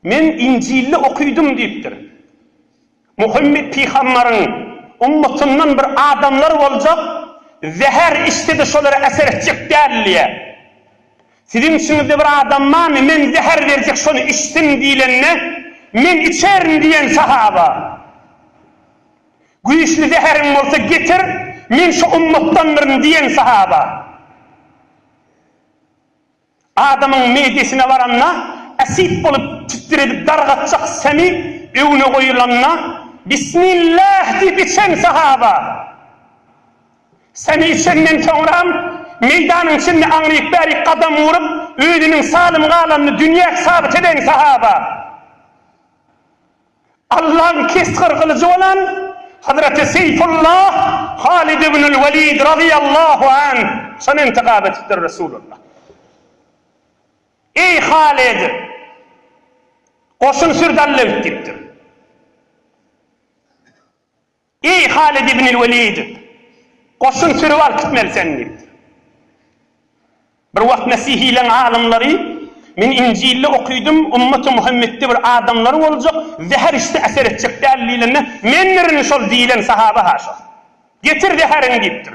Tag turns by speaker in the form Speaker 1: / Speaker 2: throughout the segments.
Speaker 1: Men Injilde okydym diýipdir. Muhammet pygambaryň ummatyndan bir adamlar boljak, zäher içse-de şolara äser etjek däl diýýär. Siziň içiňizde bir adam barmy, men zäher berjek şony içsin diýlende, Men içerin diýen sahaba, Güýçli zäheriň bolsa getir, men şo ummatdandyryn diýen sahaba. Adamyň midesine baranda, äsit bolup çitdir edip dargatjak semi öňüne goýulanda, Bismillah! diýip içen sahaba. Semi içenden soňram, meýdanyň içinde aňryk-bärik gadam urup, özüniň salym galanyny dünýäk sabyt eden sahaba. Allaň kesgir gylyjy bolan Hazreti Seýfullah Halid ibnül Welid razyýallahu anh şony intigap edipdir, Resulullah, Eý, Halid! Goşun sürdallewt! diýipdir. Eý, Halid ibnil Welid! Goşun sürüp alyp gitmeli seni! diýipdir. Bir wagt mesihileň alymlary, Men Injilde okydym, ümmaty Muhammetde bir adamlar boljak, zäher içse äser etjek däl diýlende, Mendirin şol diýlen sahaba-ha şol. Getir zäheriňi diýipdir.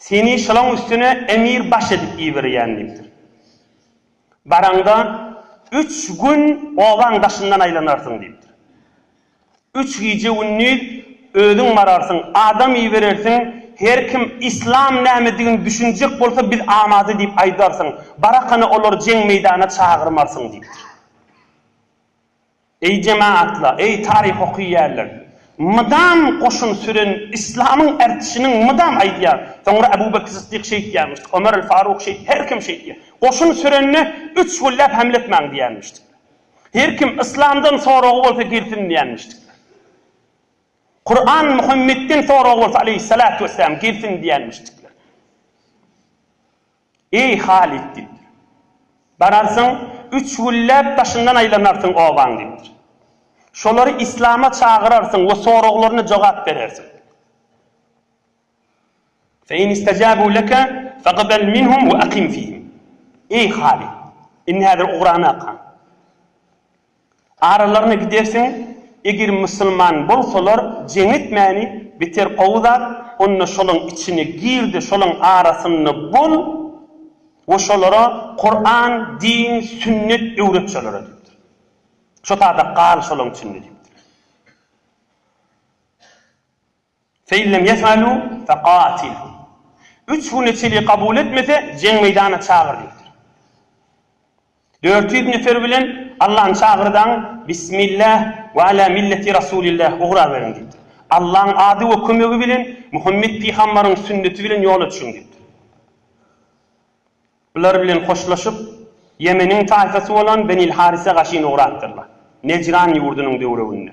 Speaker 1: Seni şolaň üstüne emir baş edip iberýän diýipdir. Baraňda, üç gün obaň daşyndan aýlanarsyň diýipdir. Üç gije-gündiz özüň bararsyň, adam iberersiň, her kim yslam nämedigini düşünjek bolsa biz amady diýip aýdarsyň, barakana olary jeň meýdana çagyrmarsyň diýipdir. Eý jemaatlar, eý taryh okyýärler. Mydam goşun süren Islamyň ertişiniň mydam aýdýar. Soňra Abu Bekr Syddyk şeýtýärmişdik, Omer el Faruk şeýt, her kim şeýtýär. Goşun sürende üç gülläp hemle etmäň diýýärmişdikler. Her kim Islamdan soragy bolsa girsin diýýärmişdikler. Kuran Muhammetden soragy bolsa aleýhissalatu wessalam girsin diýýärmişdikler. Eý, Halyt, diýipdir. Bararsyň, üç gülläp daşyndan aýlanarsyň obaň, diýipdir. Şolary yslama çagyrarsyň we soraglaryna jogap berersiň. Fe in istajabuu leke fagibel minhum we akim fihim. Eý, Halyt, indi häzir ugrana kal. Aralaryna gidersiň, eger musulman bolsalar jeň etmäni beter gowy zat, onda şolaň içine gir-de şolaň arasynda bol we şolara Kuran, din, sünnet öwret şolara diýipdir. Şo tada gal şolaň içinde diýipdir. Fe in lem yef'alu fe qatilhum. Üç güne çenli kabul etmese, jeň meýdanyna çagyr diýipdir. Dört ýüz nefer bilen Allaň çagyrdaň, Bismillah we ala milleti Rasulillah ugraberiň diýipdir. Allaň ady we kömegi bilen, Muhammet pygambaryň sünneti bilen ýola çykyň diýipdir. Bular bilen hoşlaşyp, Ýemeniň taýfasy bolan Benil Harise gaşyn ugrapdyrlar. Nejran ýurdunyň döwrebinde.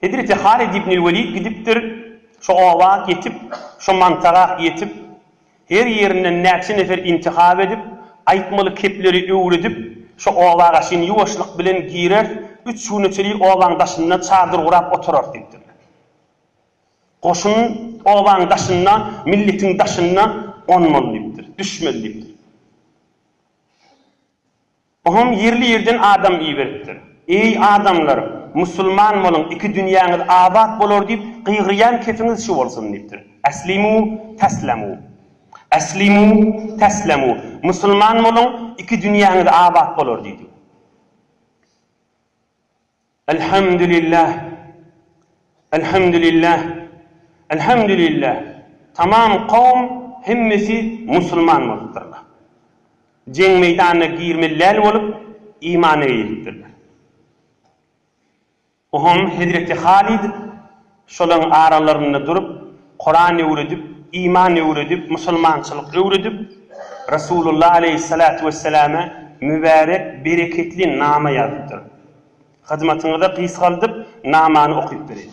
Speaker 1: Hezreti Halid ibnül Welid gidipdir, şo oba ýetip, şo mantaga ýetip, her ýerinden näçe nefer intihap edip, aýtmaly kepleri öwredip, şo obaga çyn ýuwaşlyk bilen girer, üç güne çenli obaň daşynda çadyr gurap oturar diýipdirler. Goşun obaň daşynda, milletiň daşynda gonmaly diýipdir, düşmeli diýipdir. Oňam ýerli-ýerden adam iberipdir. Eý, adamlar, musulman boluň, iki dünýäňiz abat bolar diýip, gygyrýan kefiňiz şu bolsun diýipdir. Äslimu, täslämu. Äslimu, täslämu. Musulman boluň, iki dünýäňiz abat bolar diýdi. Elhamdülillah Elhamdülillah Elhamdülillah tamam kowum hemmesi musulman bolupdyrlar. Jeň meýdanyna girmeli däl bolup imana eýilipdirler. Ohom hezreti Halid Şolaryň aralarynda durup, Kuran öwredip, iman öwredip, musulmançylyk öwredip, Resulullah aleýhissalatu wesselame mübärek, bereketli nama ýazypdyr. Hyzmatyňyza gysgaldyp, namany okyp bereýin.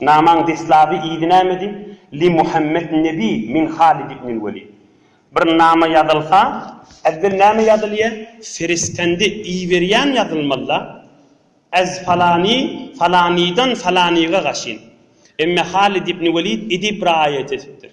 Speaker 1: Namaň deslaby yzy nämedi? Li Muhammet Nebi min Halid ibnil Welid. Bir nama ýazylsa, ezzel näme ýazylýa? Ferisgende iberýän ýazylmaly-da. Ez falani, falanydan falanyga gaşyn. Emme Halid ibn Welid edip raýat etipdir.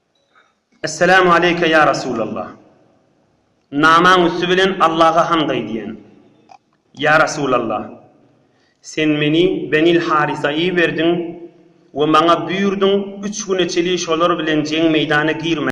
Speaker 1: Esselamu aleýke ýa Resulallah. Namaň üsti bilen Allaha hamd aýdýan. Ýa Resulallah! Sen meni Benil Harisa iberdiň we maňa buýurdyň üç güne çeli şolar bilen jeň meýdana girmäge.